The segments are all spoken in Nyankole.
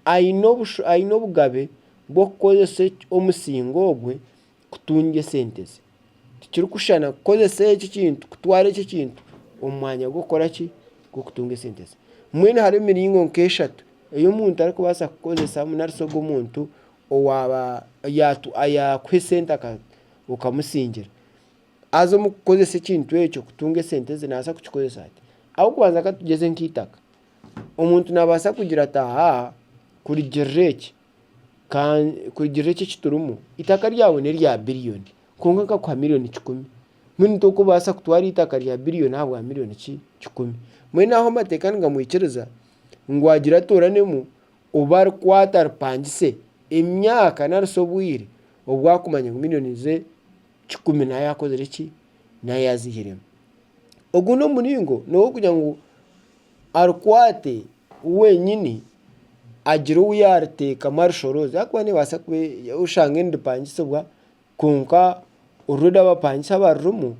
aine obugabe bw'okukozesa omusinga ogwe kutunga esente ze. Tikirikushushana kukozesa eki ekintu, kutwara eki ekintu omu mwanya gw'okukora ki, gw'okutunga esente ze. Mbwenu hariho emiringo nk'eshatu ei omuntu arikubaasa kukozesamu nari shi ogwo omuntu owaaba yaakuha esente okamusingira. Haza omu kukozesa ekintu ekyo kutunga esente ze, nabaasa kukikozesa ata? Ah'okubanza katugyeze nk'eitaka. Omuntu naabaasa kugira ati, Aha, kurigirira eki, kurigirira eki ekiturimu, eitaka ryawe n'erya biriyoni kwonka nkakuha miriyoni kikumi. Mbwenu torikubaasa kutwara eitaka rya biriyoni ahabwa miriyoni ki? Kikumi. Mbwenu aho amateeka nigamwikiriza ngu agire atooranemu obu arikwata aripangise emyaka nari shi obwire obu arikumanya ngu miriyoni ze kikumi nayo akozire ki, nayo azihiremu. Ogu n'omuringo n'owokugira ngu arikwate wenyini agire ou yariteekamu arishoroze ahakuba nebaasa kuba oshange niripangisibwa kwonka orurembo abapangisi abarurimu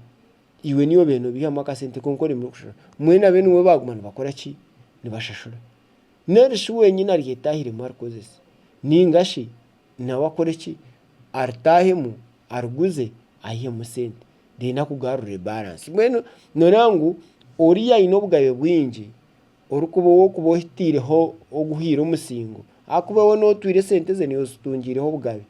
iwe niiwe obiire nobiihamu akasente konka oremire kushashura mbwenu abeene iwe baguma nibakora ki, nibashashura. Narishi wenyini ari etaahiremu arikozesa ninga shi. nawe akore ki? Aritaahemu ariguze aihemu sente then akugarurire balance. Mbwenu nooreeba ngu oriya aine obugabe bwingi orikuba ow'okuba ohitaireho oguhaire omusingo ahakuba we nooba otwaire esente ze niiwe ozitungyireho obugabe.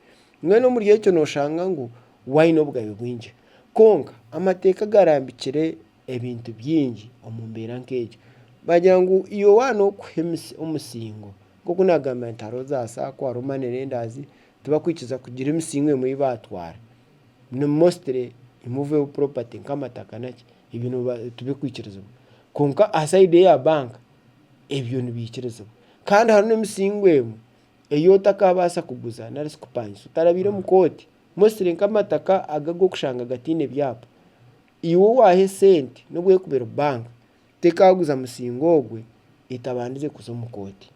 Mbwenu omuri ekyo nooshanga ngu we aine obugabe bwingi. Kwonka amateeka agarambikire ebintu bingi omu mbeera nk'egyo. Baagira ngu Yowaana okuha omusingo, nk'oku naagambire nti hariho za saako, hariho money lenders, tibakwikiriza kugira emisingo emwe ei baatwara. Ni mostly immovable property nk'amataka naki, ebyo nibiba tibikwikirizibwa. Kwonka aha sayidi eya banka, ebyo nibaikirizibwa. Kandi hariho n'emisingo emwe ei otakaabaasa kuguza nari shi kupangisa otarabaire omu kooti, mostly nk'amataka aga ag'okushanga gataine byapa. Iwe owaaha esente n'obu ekuba eri banka, tekaaguza musinga ogwe etabandize kuza omu kooti.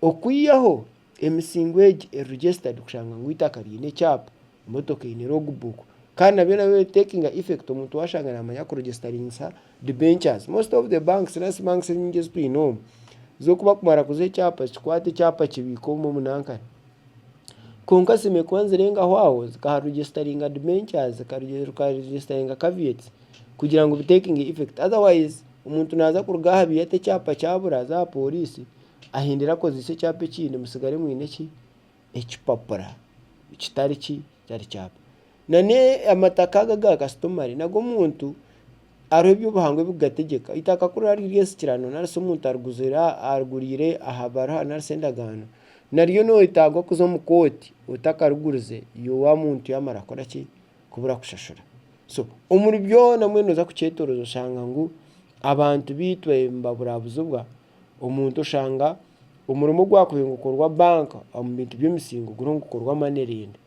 Okwihaho, emisingo egi eri registered kushanga ngu eitaka riine ekyapa, emotoka eine logbook, kandi nabyo nabyo biri taking effect omuntu waashanga naamanya kuregisitaringisa debentures. Most of the banks nari shi banks ezinyingi ezi twine omu, zo ku bakumara kuziha ekyapa, zikikwata ekyapa kibiika omu omunankare. Kwonka sime kuba nizirengaho aho zikaha registeringa debentures zika registeringa caveats kugira ngu bi takinge effect otherwise omuntu naza kuruga aha biiya ata ekyapa kyabura aze aha poriisi ahindire akozese ekyapa ekindi mutsigare mwine ki? Ekipapura kitari ki? Kitari kyapa. N'amataka aga aga kasitumari nago omuntu hariho ebi obuhangwa ebi kugategyeka. Eitaka ku riraaba riri ensikirano nari shi omuntu ariguriire aha baruha nari shi endagaano, naryo noyetaaga kuza omu kooti otakarigurize iwe wa muntu yaamara kukora ki, kubura kushashura. So omuri byona mbwenu nooza kukyetorooza oshanga ngu abantu beitu nibaburabuzibwa, omuntu oshanga omurimo ogwakubaire nigukorwa banka omu bintu by'emisingo guriho nigukorwa manirendi.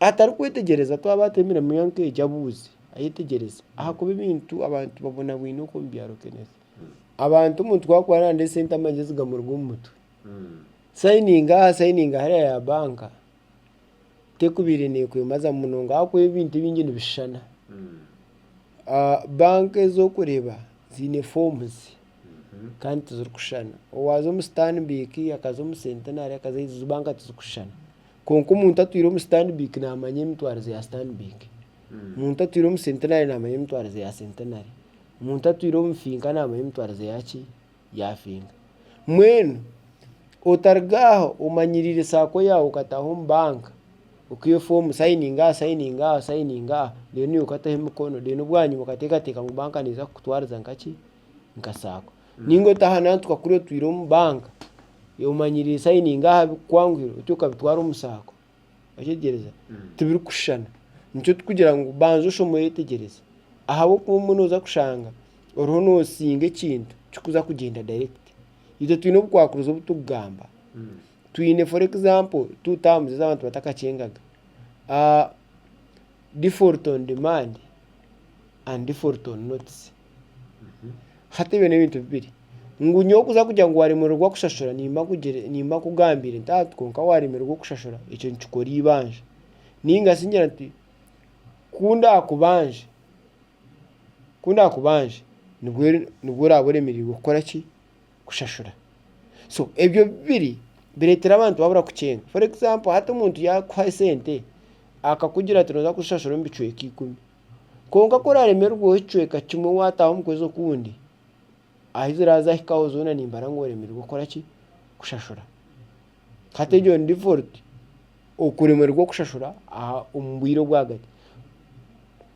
atarikwetegyereza twaba batemire miyo nk'egi abuuze ayetegyereze ahakuba ebintu abantu babonabwine oku omu byaro kenene. Abantu omuntu ku arikuba naaronda esente amagezi gamuruga omu mutwe. Sayininga aha sayininga hariya ya banka tekubaire neekwemaza munonga ahakuba ebintu ebingi nibishushana. Banka ezi orikureeba ziine foomuzi kandi tizirikushushana. Waaza omu Stanbic akaza omu Centenary akaza aha eziizi banka tizirikushushana. Kwonka omuntu atwire omu Stanbic naamanya emitwarize ya Stanbic. Omuntu atwire omu Centenary naamanya emitwarize ya Centenary. Omuntu atwire omu Finca naamanya emitwarize ya ki? Ya Finca. Mbwenu otaruga aho omanyiriire saako yaawe okataaha omu banka, okaiha efoomu osayininga aha, osayininga aha, osayininga aha, reero niiwe okataho emikono, reero bwanyima okateekateeka ngu banka neeza kukutwariza nkaki? nka saako ninga otaha nantu kakuru otwire omu banka omanyire sayininga aha bikukwanguhire oti okabitwara omu saako okyegyereza tibirikushushana nikyo tukugira ngu banza oshome oyetegyereze ahabw'okuba obumwe noza kushanga oriho nosinga ekintu kikuza kugyenda dayirekiti itwe twine obukwakurizo obu turikugamba twine foru egizampo tuute aha muzeeyi abantu batakakyengaga difoliti onu dimaandi andi difoliti onu notisi. Hati ebyo n'ebintu bibiri. Ngu nyowe kuza kugira ngu waaremererwa kushashura nimba nkugire nimba nkugambiire nti hati kwonka waaremererwa kushashura ekyo nikikora eibanja. Niingashi ngira nti ku ndaakubanje ku ndaakubanje nibwo nibwo oraabe oremereirwe kukora ki kushashura. So ebyo bibiri bireetera abantu babura kukyenga. For example hati omuntu yaakuha esente akakugira ati nooza kuzishashura omu bicweka ikumi Kwonka ku oraaremererwaho ekicweka kimwe waataaha omu kwezi okundi, ahi ziraaza ahikaho zoona nimbara ngu oreemererwa kukora ki? Kushashura. Hati egyo ni default, okuremererwa kushashura aha omu bwire obwagati.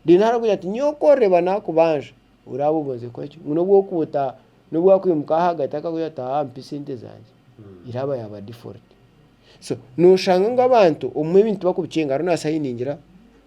Reero hariho okugira nti nyowe ku oreba naakubanja, oraabe obonzire kukora ki? Ngu n'obu okuba ota n'obu wakwimuka ahagati akakugira ati aa mpa esente zangye, eraaba yaaba default. So nooshanga ngu abantu obumwe ebintu bakubikyenga reero naashanga hati ningira.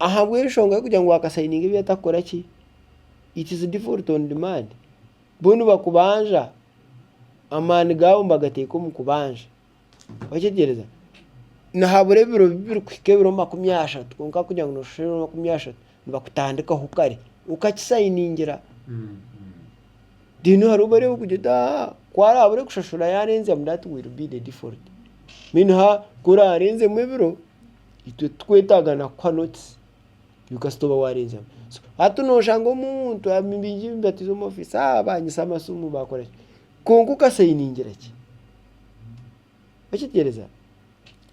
Ahabw'enshonga y'okugira ngu waakasayininga ebi atarikukora ki, it is default on demand. Bo nibakubanja, amaani gaabo nibagateeka omu kubanja. Orakyetegereza? Nihabura ebiro bibirikuhika ebiro makumi ashatu kwonka kugira ngu nooshusha ebiro makumi ashatu, nibakutandikaho kare okakisayiningira. Reero hariho obu barikureeba kugira oti aa, ku araabaase kushashura yaarenzamu that will be the default. Mbwenu ha ku oraareenzemu ebiro, itwe titwetaaga na kuha notisi ngu kasita oba waarenzamu. Hati nooshanga omuntu ayemereire omu batiza omu ofiisi haa baanyitsa amasimu baakora ki kwonka okasayiningira ki? Okigyereza?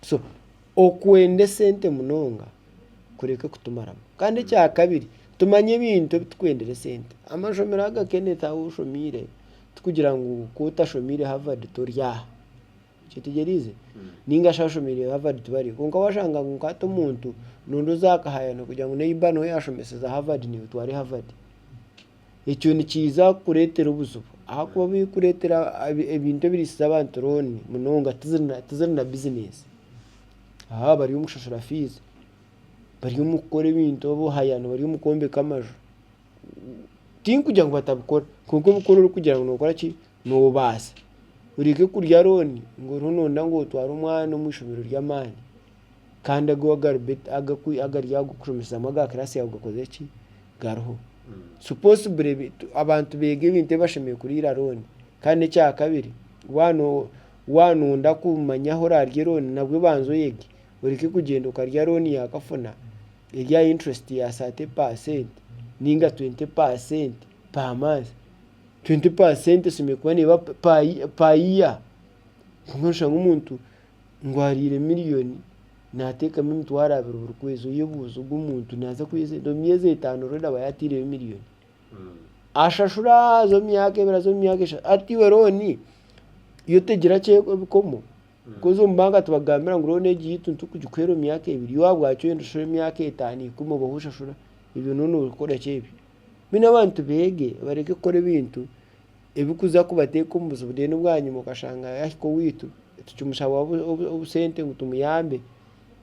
So okwenda esente munonga kureke kutumaramu. Kandi ekyakabiri tumanye ebintu ebi turikwendera esente. Amashomero aga Kenneth agu oshomiire, tikugira ngu ku otashomiire Harvard tori aha. Kyetegyereize? Ninga shi ashomeire Harvard tibariho. Kwonka washanga ngu nkahati omuntu nondi ozakahayana kugira ngu neiba niwe yashomeseza Harvard nimutware Harvard. Ekyo nikiza kukuretera obuzibu ahakuba bikuretera ebintu ebirisize abantu loan munonga tiziri na business. Haa bari omu kushashura fees, bari omu kukora ebintu obuhayani, bari omu kwombeka amaju. Tinkugira ngu batabikora kwonka obukora orikugira ngu nokoraki? Noobaasa. Oreke kurya rooni ngu oriho nooyenda ngu otware omwana omu ishomero ry'amaani kandi agu agari aha kukushomesaamu aga kiraasi yaawe gakozire ki, gariho. Si poosibure abantu beega ebintu ebi bashemereire kuriira rooni. Kandi n'ekyakabiri, waaba no waaba nooyenda kumanya ahu oraarye rooni nabwo banza oyege. Oreke kugyenda okarya rooni yaakafuna eri aha inturesiti ya saate paaseenti nainga twente paaseenti paamanti. twenti paasenti esemeriire kuba neeba per year. Kwonka noshanga omuntu ngu ariire miriyoni nateekamu emitwaro abiri buri kwezi. Oyebuuze ogu omuntu naaza kwiha esente? Omu myezi etaano oreda aba yateireyo miriyoni. Ashashura aza omu myaka ebiri aza omu myaka eshatu. Hati iwe rooni yo tegyire akye ebikomo. Coz omu banka tibakugambira ngu rooni egi eitu nitukugikuhera omu myaka ebiri. Yo ahabwaki orenda oshashure emyaka etaano, ikumi obeho oshashura? Ebyo noona orikukoraki ebyo? Mbwenu abantu beege bareke kukora ebintu ebirikuza kubateeka omu buzibu reero bwanyima okashanga yaahika owaitu tukimushaba obusente ngu tumuyambe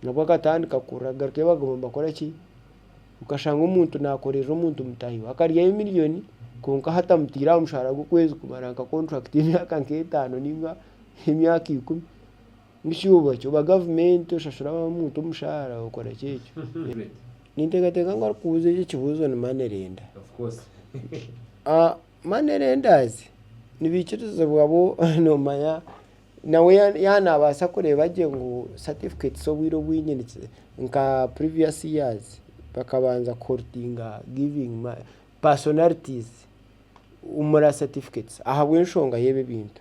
nabwo akatandika kurira agarukeyo baguma nibakora ki? Okashanga omuntu naakorerera omuntu mutaahi we akaryayo miriyoni kwonka ahu atamutaire aha mushahara gw'okwezi kumara nka kontrakiti y'emyaka nk'etaano nainga emyaka ikumi. Oba gavumenti oshashura omuntu omushaara okora ki ekyo? Ninteekateeka ngu arikubuuza eki ekibuuzo ni money lender. Money lenders nibaikirizibwa bo noomanya nawe yaaba naabaasa kureeba gye ngu certificates obwire obwingi niki nka previous years bakabanza ku holitinga giving personalities moral certificates ahabw'enshonga y'ebi ebintu.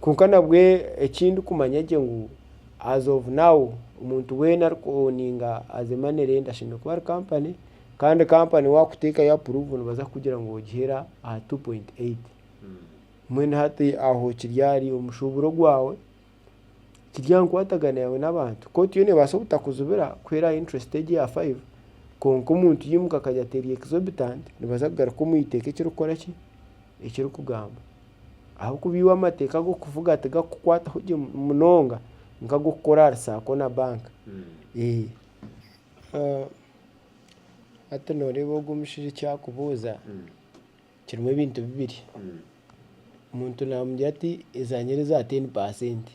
Kwonka nabwo eki ndikumanya gye ngu as of now omuntu weena ari ku owuninga as a money lender ashemereire kuba ari kampani kandi kampani waakuteekayo apuruvu nibaza kukugira ngu ogiheera aha tu puyinti eyiti. Mbwenu hati aho kiri ahari omushuuburo gwawe. kiri aha nkwatagana yaawe n'abantu. Kooti yo neebaasa obutakujubira kuhera aha interest egyo eya five kwonka omuntu yaimuka akagira ati eri exorbitant nibaza kugaruka omu eiteeka ekirikukora ki, ekirikugamba. Ahabw'okuba iwe amateeka ag'okuvuga tigakukwataho gye munonga nk'ag'okukora ahari saako na banka. Hati nooreeba ogwo omushaija eki arikubuuza. Kirimu ebintu bibiri. Omuntu naamugira ati ezanyera eza teni paasenti.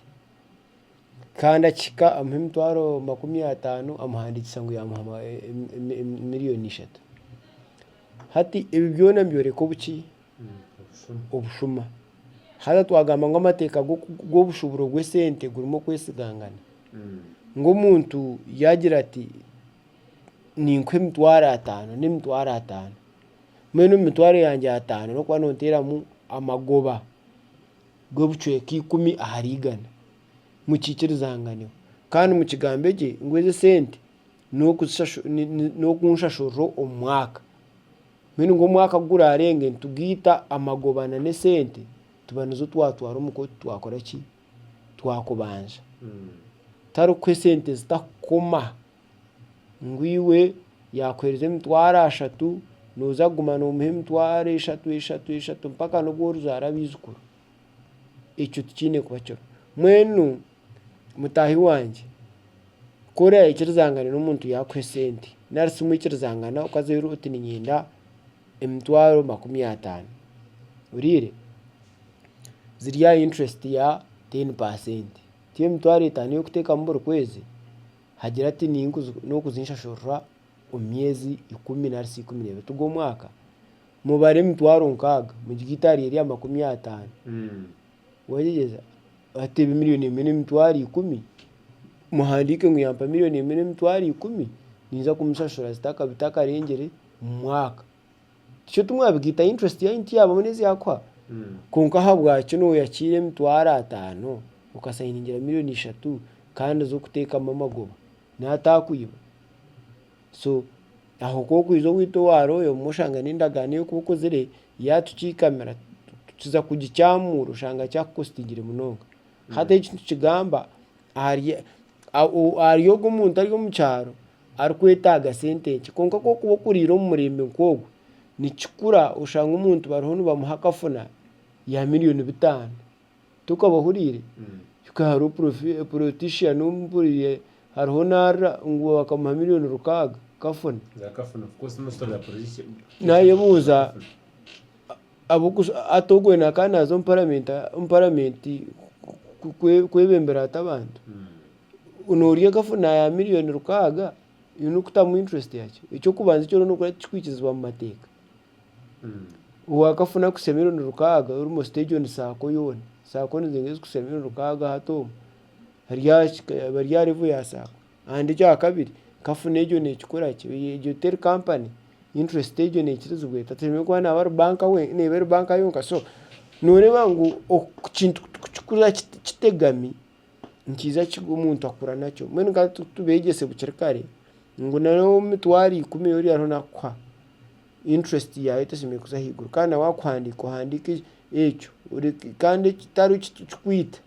Kandi akihika amuha emitwaro makumi ataano amuhandiikisa ngu yaamuha miliyooni ishatu. Hati ebi byona nibyoreka obuki? Obushuma. Haza twagamba ngu amateeka g'obushuburo bw'esente gurimu okwesigangana. Ngu omuntu yaagira ati ninkuha emitwaro ataano n'emitwaro ataano. Mbwenu omu mitwaro yangye ataano n'okuba nooteeramu amagoba g'obucweka ikumi ahari igana mukiikirizanganeho. Kandi mukigambe gye ngu ezi esente n'okunshashurira omu mwaka. Mbwenu ngu omwaka ku guraarenge nitugaita amagoba na n'esente tuba nizo twatwara omu kooti twakora ki? Twakubanja. Tarikuha esente zitakukoma. ngu iwe yaakuheereza emitwaro ashatu nooza kuguma noomuha emitwaro eshatu eshatu eshatu mpaka n'obu orizaara abaijukuru, ekyo tikiine kuba kiriho. Mbwenu mutaahi wangye ku oraayekirizangane n'omuntu yaakuha esente nari si mwikirizangana okaza oti niinyenda emitwaro makumi ataano, ohuriire? Ziri aha inturesiti ya teeni paasenti, ti emitwaro etaano ey'okuteekamu buri kwezi. Hagira ati, N'okuza enshashurura omu myezi ikumi nari ikumi n'ebiri tuga omwaka, mubare emitwaro nkaaga mugire eitaari erya makumi ataano. Wagyegyeza? Hati ebe milioni emwe n'emitwaro ikumi, muhandiike ngu yampa milioni emwe n'emitwaro ikumi, ninza kumushashura zitakarengyere omu mwaka. Tikyo timwabigaita interest yanyu tiyaabamu n'ezyakuha kwonka ahabwakyo nooyakiira emitwaro ataano okasayiningira million ishatu kandi z'okuteekamu amagoba nawe ataakwiba so aho ku orikwija owaitwe owa royo obumwe oshanga n'endagaano ei orikuba okozire yaatukiikamira tukiza kugikyamuura oshanga kyakukostingire munonga hati eki nitukigamba ahari ogwo omuntu ari omu kyaro Arikwetaaga sente nkye. Kwonka ku orikuba okuriire omu murembe nk'ogwo, nikikura oshange omuntu bariho nibamuha akafuna ya milioni bitaano. Tokaba ohuriire? Hika hariho porofi porotiishani ou mpuriire hariho naarira ngu bakamuha milioni rukaaga kafuna. Naayebuuza ahabw'okush hati ogwo nawe akaba naaza omu paramenti omu paramenti ku ku kwebembera ata abantu? Noorya ekafuna ya million rukaaga you need kutamu interest yakyo. Eky'okubanza ekyo orikukora tikikwikirizibwa mu mateeka. Waakafuna kuhitsya million rukaaga you must take on saako yoona. Saako nizo ezirikuhitsya million rukaaga hati omu eri aha kika aba ari aha level ya saako. And ekyakabiri kafuna egyo neekikora ki? Egyo teri company, interest egyo neekirizibwa eta? Teine kuba naaba ari banka we neeba eri banka yonka. So nooreeba ngu ekintu kuki kukira kitegami. nikiija kikwo omuntu akura nakyo mbwenu ka tubeegyese bukiri kare ngu nari emitwaro ikumi ori ariho naakuha interest yaayo tesemeriire kuza ahaiguru kandi nawe akuhandiika ohandiike ekyo kandi ekitari kikwita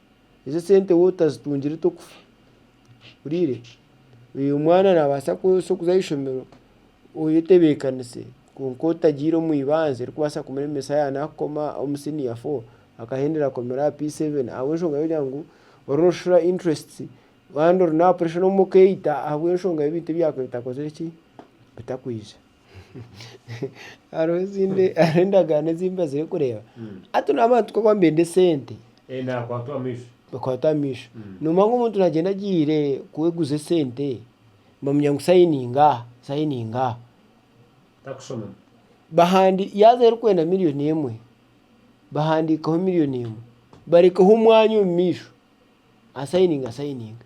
ezo esente waaba otazitungire tokufa ohuriire omwana naabaasa kuza aha ishomero Oyetebeekanise, kwonka otagiire omu ibanza erikubaasa kumuremesa yaaba naakukoma omu siniya fo, akahendera akomera aha P seveni ahabw'enshonga y'okugira ngu oriyo noshashura inturesiti kandi ori n'aha puresha n'omu okeeyita ahabw'enshonga y'ebintu ebi yaakubaire etakozire ki, bitakwija. Hariho ezindi hariho endagaano ezi mbazire kureeba, hati naaba ati kwogwa mbende esente, bakwatwa amaisho, noomanya ngu omuntu naagyenda agiire kweguza esente. Bamanya ngu sayininga aha, sayininga aha. Takushoma. Bahandi yaaza erikwenda milioni emwe, bahandiikeho milioni emwe. Barekeho omwanya omu maisho, asayininga, asayininga.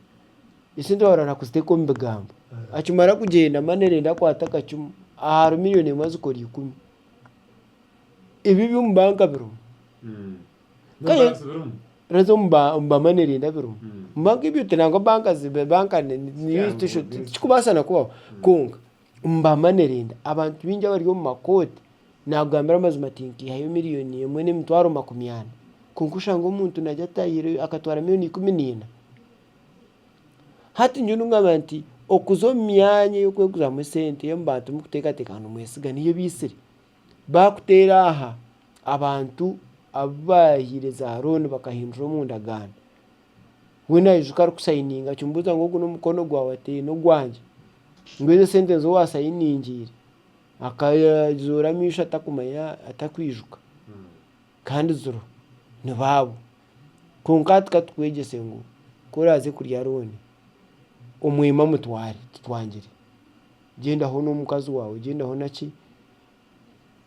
Esente baahurira na kuziteeka omu bigambo. Akimara kugyenda amanirenda akwate akacumu, ahari milioni emwe azikora ikumi. Ebi eby'omu banka birimu. Kare, N'obubanzi birimu. rezo omu ba- omu bamwe nirinda birimu. Mm. Omu banka ibyo te nangwa banka zibe banka ni- ni- ni- Tikyaha tisho- omuntu wese. tikikubaasa na kubaho. Kwonka, omu bamwe nirinda, abantu bingi abari omu makooti, naakugambira amazima ati nkaihayo miriyoni emwe n'emitwaro makumi ana. Kwonka oshange omuntu nagire ati ahaire akatwara miriyoni ikumi niina. Hati nyowe ningamba nti okuza omu myanya ey'okweguzaamu esente, ey'omu bantu mukuteekateeka ngu nimwesiga niyo ebaitsire. baakuteera aha abantu abu baahaire za rooni bakahindura omu ndagaano, we naijuka arikusayininga akimubuuza ngu ogu n'omukono gwawe ati eyi n'ogwangye, ngu ezo esente nizo waasayiningiire akazoora amaisho atakumanya atakwijuka. kandi ziro ni baabo. Kwonka hati ka tukwegyese ngu ku oraaze kurya rooni, omwema mutware, titwangire. Gyendaho n'omukazi waawe, gyendaho na ki.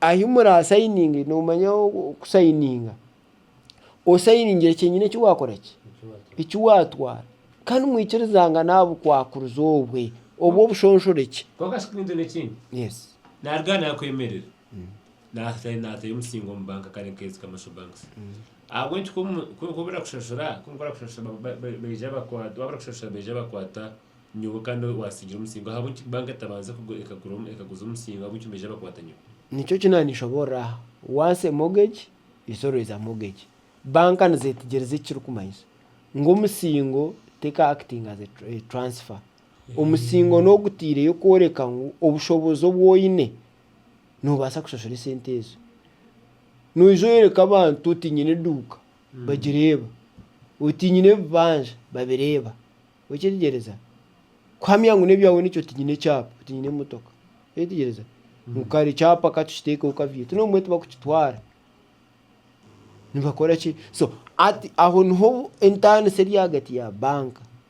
Ahi muraasayininge noomanya kusayininga, osayiningire kyenyini eki waakora ki, eki waatwara. Kandi mwikirizangane aha bukwakurizi obwe, obw'obushonshorekye. Kwonka shi kwinjuna ekindi? Yes. Naaruga aha naakwemerera. Naataahi naatayo omusinga omu banka kandi nkeezi commercial banks ahabw'enki ku ku nkuba barakushashura ku nkuba barakushashura ba- ba- ba- baija bakwata waaba barakushashura baija bakwata nyowe kandi waasiingire omusinga ahabw'enki banka etabanza kugu- ekagura omu- ekaguza omusinga ahabw'enki nibaija bakwata nyowe Nikyo ki naanishoboorora aha, once a mortgage is always a mortgage. Banka nizeetegyereza eki kirikumanyisa ngu omusingo teka acting as a tr- a transfer. Omusingo n'ogutaireyo kworeka ngu obushobozi obu oine noobaasa kushashura esente ezo. Noija oyoreka abantu oti nyine eduuka bagireeba, oti nyine ebibanja babireeba. Okyetegyereza? Kuhamya ngu n'ebyawe nikyo oti nyine ekyapa, oti nyine emotoka. Okyetegyereza? Ngu kare ekyapa ka tukiteekeho ka VAT. N'obu mbwenu tibakukitwara. Nibakora ki? So hati aho niho entaaniso eri ahagati ya banka.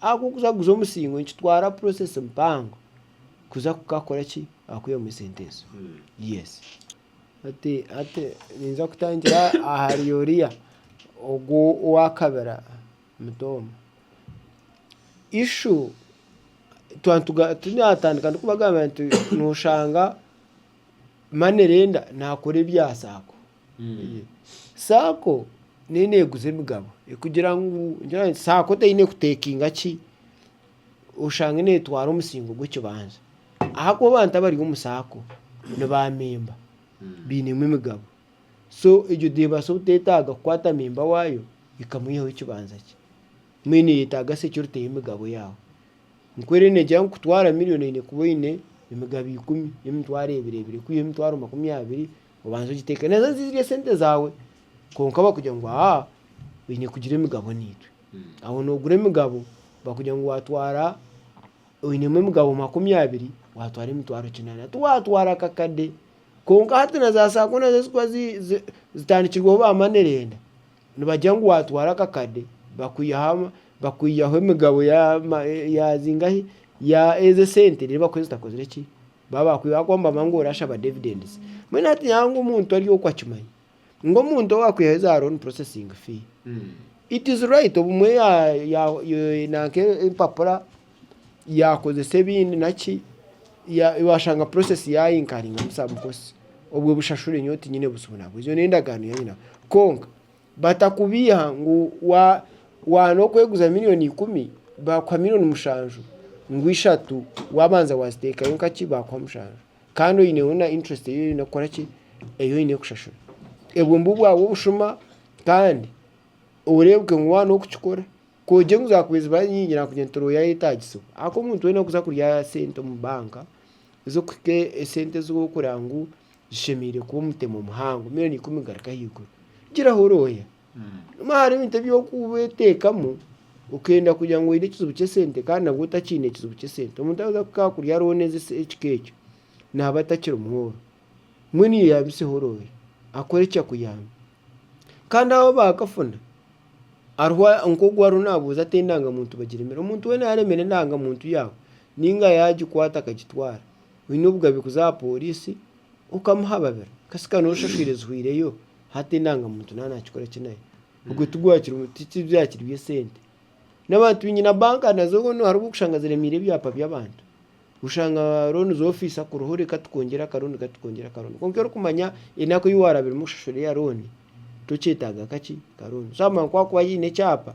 Ahakukuza guza omusingo nikitwara process mpango kuza kukakora ki akwihamu esente ezo yes. Hati hati ninza kutangira ahari oriya ogu owakabira muto omu ishu twa nituga tunatandika ndikubagambira nti noshanga money lender nakora ebya sacco. Saako neyi neguza emigabo kugira ngu saako teyine kutekinga ki oshange netwara omusingo gw'ekibanza ahakuba abantu abari omu saako ni ba memba binemu emigabo so egyo nebasa obutetaga kukwata memba wayo ekamwihaho ekibanza kye mbwenu neyetaga se ki oriteho emigabo yawe nikwo rero negira ngu kutwara million oyine kuba oyine emigabo ikumi, emitwaro ebiri ebiri kwihaho emitwaro makumi abiri. Obanza ogitekanisa ngu zirya sente zaawe kwonka bakugira ngu aa oine kugira emigabo naitwe. Aho nogura emigabo bakugira ngu watwara oinemu emigabo makumi abiri watwara emitwaro kinaana. Tiwatwara akakade kwonka hati na za saako nazo ezikuba zitandikirweho ba manerenda nibagira ngu watwara akakade bakwihaho bakwihaho emigabo ya ma ya zingahi ya ezo esente reero bakuhe ezitakozire ki Baaba bakwiha aha kuhamba amaani ngu orashaba dividends. Mbwenu hati nyawe ngu omuntu ari oku akimanya ngu omuntu owa kwihayo za loan processing fee. It is right obumwe ya- ya- ya- nanka empapura yakozesa ebindi naki ya- washanga process yayinkaringamu some costs. Obwe bushashure nyowe tinyine buzibu nabwe. Ezo n'endagaano yanye nawe. Konka. Batakubeiha ngu wa waana okweguza million ikumi bakuha million mushanju ngu ishatu wabanza wazitekayo nka ki bakuha mushanju kandi oyineho na interest eyi oyine kukora ki eyi oyine kushashura ebwe nibwo bwaba obushuma kandi orebuke ngu waana okukikora kogye ngu zakubaire zibaye nyingi nakugira nti royo ayetagisibwe ahakuba omuntu wena okuza kurya sente omu bank ezokuhika esente ezokureba ngu zishemereire kuba omutemo muhango miriyoni ikumi kugaruka ahaiguru. Giraho orwoya. Nobu hariho ebintu ebi orikuba oteekamu, okenda kugira ngu oine ekizibu ky'esente kandi nabwo otakiine ekizibu ky'esente. Omuntu arikuza kukakurya hariho neeza esi- ekika ekyo, naaba atakiri mworwo. Mbwenu iwe yabiseho orwoya, akore ki akuyambe? Kandi abo abaakafuna, hariho a- nk'ogu ariho naabuuza ati endangamuntu bagiremera? Omuntu weena yaaremera endangamuntu yaawe, nainga yaagikwata akagitwara. oine obugabe kuza aha pooriisi okamuha babiri kasi ka nooba oshashwire zihweireyo hati endangamuntu naaba naakikora ki nayo? Ogwe tibyakiri by'esente. N'abantu baingi na banka nazo hariho obu orikushanga ziremeire ebyapa by'abantu. Oshanga rooni z'ofiisi akuriho reka tukwongyere akarooni reka tukwongyere akarooni kwonka orikumanya enaku ei waarabiremu kushashura eya rooni tokyetaaga kaki karooni. So amangu ku waakuba haine ekyapa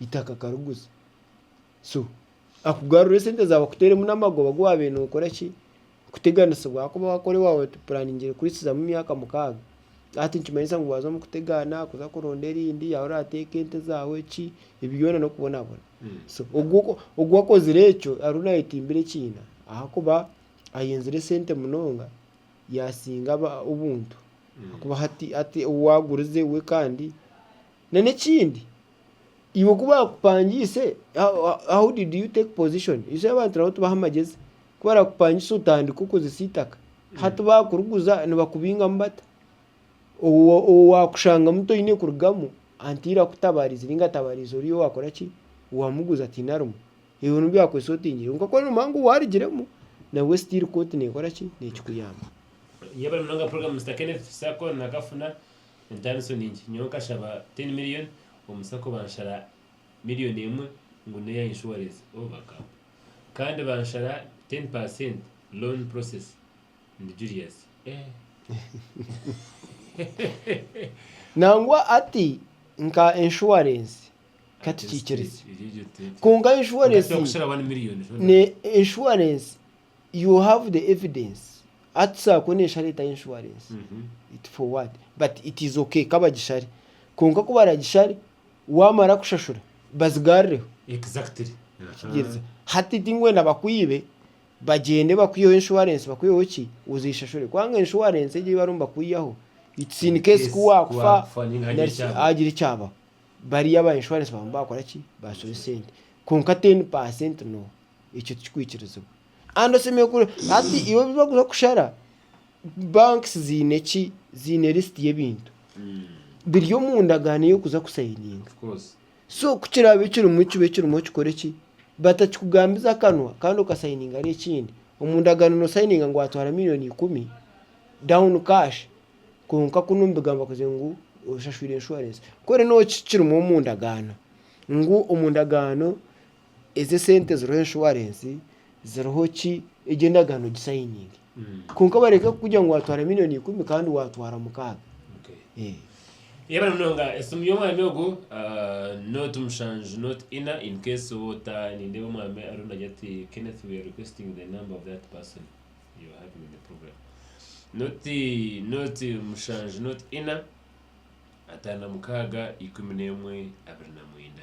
eitaka akariguza so akugarurire esente zaawe akuteeremu n'amagoba agu waabaire nookora ki kuteganisibwa ahakuba waakora owaawe watupuraaningire kuhitsirizamu emyaka mukaaga hati nikimanyisa ngu waaza omu kutegaana kuza kuronda erindi yaaba oraateeka ente zaawe ki ebi byona n'okubonabona so ogwo ogu akozire ekyo ariyo naayetimbira ekiina ahakuba ayenzire esente munonga yaasinga aba obuntu ahakuba hati hati owaagurize we kandi na n'ekindi Iwe ku baakupangiise, how did you take position? You see abantu nabo tibaha magyezi. Ku barakupangisa otandika okozesa eitaka. Hati baakuriguza nibakubingamu bata? Owo waakushangamu toine kurugamu, antiire akutabaarize nainga atabariize ori owaakora ki? Owaamuguza ataine arimu. Iwe n'obu byakuhitsya otiinire. Kwonka ku nooba noogira ngu waarugiremu, nabwe still kooti neekora ki? Neekikuyamba. Entariso ningi, nyowe nkashaba ten million omu sacco banshara million emwe ngu neya insurance oh bagamba Kandi banshara ten percent loan process ndi Julius eeh Nangwa ati nka insurance kati kikiriza kwonka insurance ne insurance You have the evidence hati tushobora kubona eshara etari insurance it for what but it is okay kabagishare kwonka kubaragishare wamara kushashura bazigarireho Exactly. Aha. kugiriza hati tingwenda bakwibe bagyende bakwiyeho insurance bakwiyeho ki ozeshashure kubanga insurance egyo eyibarimu nibakwiyaho it's in case Yes, kuwakufa kuwakufa ninga hagira nari ki ekyabaho. hagira ekyabaho bariya aba insurance baba nibakora ki bashobe sente kwonka ten percent no. ekyo tikikwikirizibwa kandi oshemereire kure hati iwe ebi bakuza kushara banks ziine ki ziine list y'ebintu biri omu ndagaano ey'okuza kusayininga so ku kiraabe kirimu kibe kirimu okikore eki batakikugambize akanwa kandi okasayininga ari ekindi omu ndagaano nosayininga ngu watwara million ikumi down cash kwonka kunu omu bigambo bakugira ngu oshashwire insurance kwerene omu ndagaano ngu omu ndagaano ezi esente ziriho enshuwarensi ziriho ki egyo endagaano gisayininge kwonka bareke kukugira ngu waatwara miliyoni ikumi kandi waatwara mukaaga Eh. Yebare munonga esimu y'omwami ogu ah, not mushanju not ina in case oba ota nindeeba omwami ariyo nagira ati Kenneth we are requesting the number of that person you are having the problem not not mushanju not ina ataano na mukaaga ikumi n'emwe abiri na mwenda